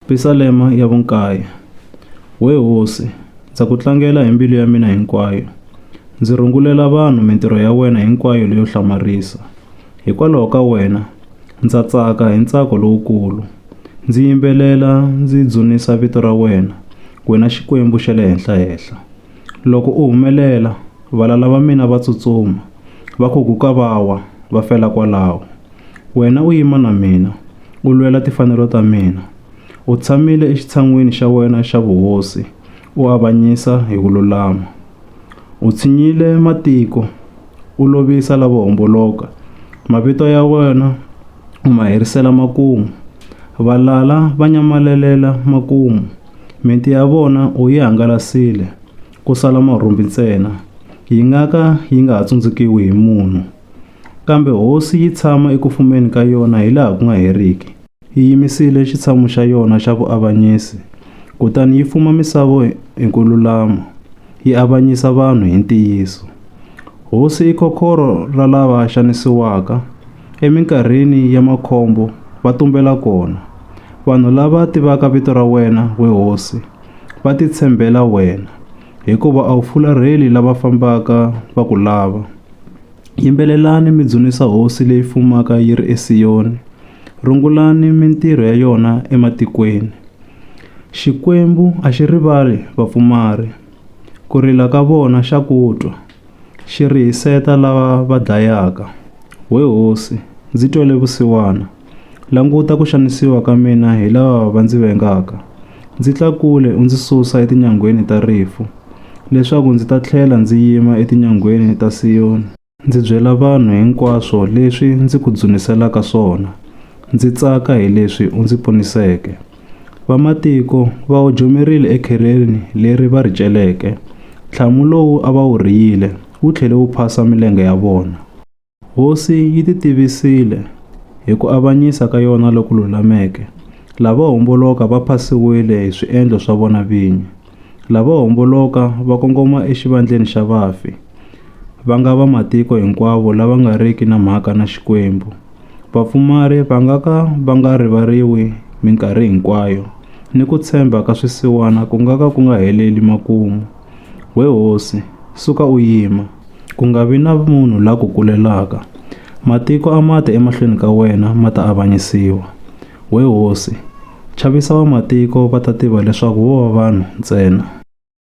Pisalema ya vunkaya. We Hosi, ndza ku tlangela hi mbilu ya mina hinkwayo. Ndzi rungulela vanhu mintirho ya wena hinkwayo leyo hlamarisa. Hikwalaho ka wena, ndza tsaka hi ntsako lowukulu. Ndzi yimbelela ndzi dzunisa vito ra wena, wena Xikwembu xa le Henhla-henhla. Loko u humelela, valala va mina va tsutsuma, va khuguka va wa, va fela kwalaho. Wena u yima na mina, u lwela tifanelo ta mina. U tshamile exitshan'wini xa wena xa vuhosi, u avanyisa hi ku lulama. U tshinyile matiko. u lovisa lavo homboloka, mavito ya wena u ma herisela makumu. Valala va nyamalelela makumu, miti ya vona u yi hangalasile, ku sala marhumbi ntsena, yi nga ka yi nga ha tsundzukiwi hi munhu. Kambe hosi yi tshama eku fumeni ka yona hilaha ku nga heriki. Yi yimisile xitshamu xa yona xa vuavanyisi, kutani yi fuma misava hi ku lulama, yi avanyisa vanhu hi ntiyiso. Hosi i kokhorho ra lava xanisiwaka, eminkarhini ya makhombo va tumbela kona. Vanhu lava tivaka vito ra wena, we hosi, va titshembela wena, hikuva a wu fularheli lava fambaka va ku lava. Yimbelelani mi dzunisa Hosi leyi fumaka yi ri eSiyoni. Rungulani mintirho ya yona ematikweni. Xikwembu a xi rivali vapfumari, ku rila ka vona xa ku twa, xi rihiseta lava va dlayaka. We hosi, ndzi twele vusiwana, languta ku xanisiwa ka mina hi lava va ndzi vengaka. Ndzi tlakule u ndzi susa etinyangweni ta rifu, leswaku ndzi ta tlhela ndzi yima etinyangweni ta Siyoni. Ndzi byela vanhu hinkwaswo leswi ndzi ku dzuniselaka swona, ndzi tsaka hi leswi u ndzi poniseke. Vamatiko va ojomerile ekhereni leri va ri celeke, ntlhamu lowu a va wu rhiyile wu tlhele wu phasa milenge ya vona. Hosi yi titivisile hi ku avanyisa ka yona loku lulameke, lava homboloka va phasiwile hi swiendlo swa vona vinyi. Lavo homboloka va kongoma exivandleni xa vafi, va nga va matiko hinkwavo lava nga riki na mhaka na Xikwembu. Vapfumari va nga ka va nga rivariwi minkarhi hinkwayo, ni ku tshemba ka swisiwana ku nga ka ku nga heleli makumu. We hosi, suka u yima, ku nga vi na munhu la ku kulelaka. Matiko a ma te emahlweni ka wena ma ta avanyisiwa. We hosi, chavisa vamatiko va ta tiva leswaku vo va vanhu ntsena.